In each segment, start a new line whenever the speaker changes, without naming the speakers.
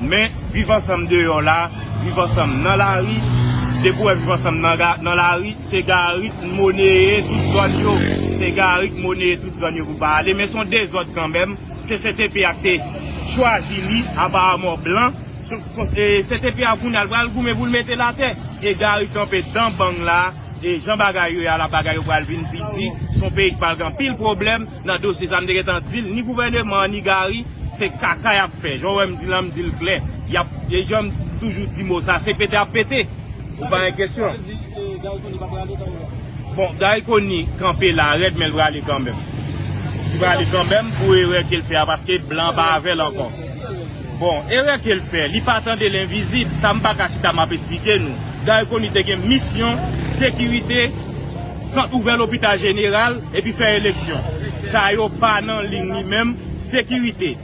Men, viv ansanm deyò la, viv ansanm nan lari, depi ou wè viv ansanm nan lari, se gari ki moneye tout zòn yo, se gari ki moneye tout zòn yo pou pa ale, men son dezòd kanmenm, CCTP a te chwazi li, aparamon blan, CCTP a kounye a li pral goumen pou li mete l atè, e gari kanpe dan bang la, e jan bagay yo ye a la bagay yo pral vin pi di, son peyi ki pral gen anpil pwoblèm. Nan dosye sa m te gentan dil ni gouvèneman an ni Gary se kaka yap fè jan w wèm di lan m dil klè yap e janm toujou di mo sa se pete ap pete ou pa gen kesyon bon Gary Conille kanpe la rèd men l prale kanmenm li prale kanmenm pou erè kel fè a paske blan pa avèl ankò bon erè kel fè li pa tande lenvizib sa m paka chita map esplike nou Gary Conille te gen misyon sekirite. Sant ouvè lopital jeneral epi fè eleksyon. Sa yo pa nan liy ni menm. Sekirite,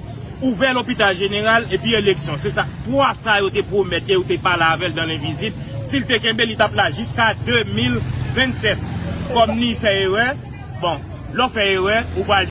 ouvè lopital jeneral epi eleksyon. Se sa 3 sa yo te pwomèt ke yo te pale avè l dan lenvizib. Si l te kenbe, li t ap la jiska 2027. Kòm ni fè erè, bon, lè w fè erè, ou pral.